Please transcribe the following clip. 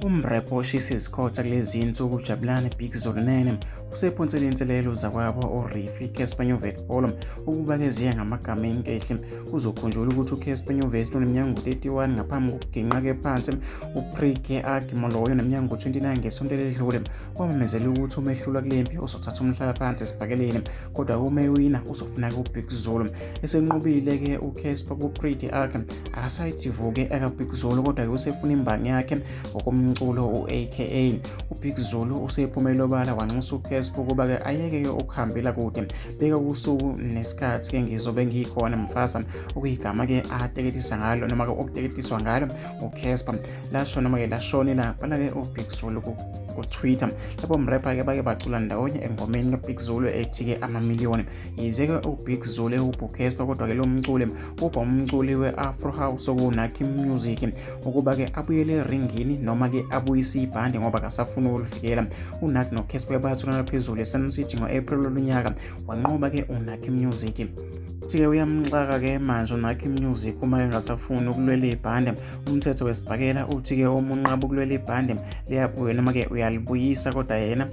Umrepha oshisa izikhotha kulezi nsuku uJabulani Big Zolunene usephonsele inselelo zakwabo uRifi Casper Nyovest Polo ukuba keziye ngamagama enkehli kuzokhunjulwa ukuthi uCasper Nyovest uneminyaka ngu-31 ngaphambi kokuginqake phansi uPrike Agimoloyo neminyaka ngu-29 ngesonto eledlule kwamemezela ukuthi uma ehlulwa kule mpi uzothatha umhlala phansi esibhakeleni kodwa uma ewina uzofuna-ke uBig Zulu esenqobile-ke uCasper kuPrike Agim akasayitsivuke akabig zulu kodwa ke usefuna imbangi yakhe ngokomculo u-aka ubig zulu usephumele obala wanxusa ucasp ukuba ke ayeke-ke ukuhambela kude beka usuku nesikhathi ke ngizobe ngiyikhona mfaza okuyigama ke ateketisa ngalo noma ke okuteketiswa ngalo ucasp lasho noma ke lashone labhala ke ubig zulu kutwitter lapho mrepha ke bake bacula ndawonye engomeni kabig zulu ethi-ke amamiliyoni yize-ke ubig zulu ewubhukespa kodwa-ke lo mculi ubha umculi we-afro house okunakhi music ukuba-ke abuyele eringini noma-ke abuyise ibhande ngoba kasafuni ukulivikela unakhi nokespa bayathulana phezulu esun city ngo-april lolunyaka wanqoba-ke unakhi music futhi-ke uyamxaka-ke manje unakhi music uma engasafuni ukulwela ibhande umthetho wesibhakela uthi-ke uma unqaba ukulwela ibhande liyabuya noma-ke uyalibuyisa kodwa yena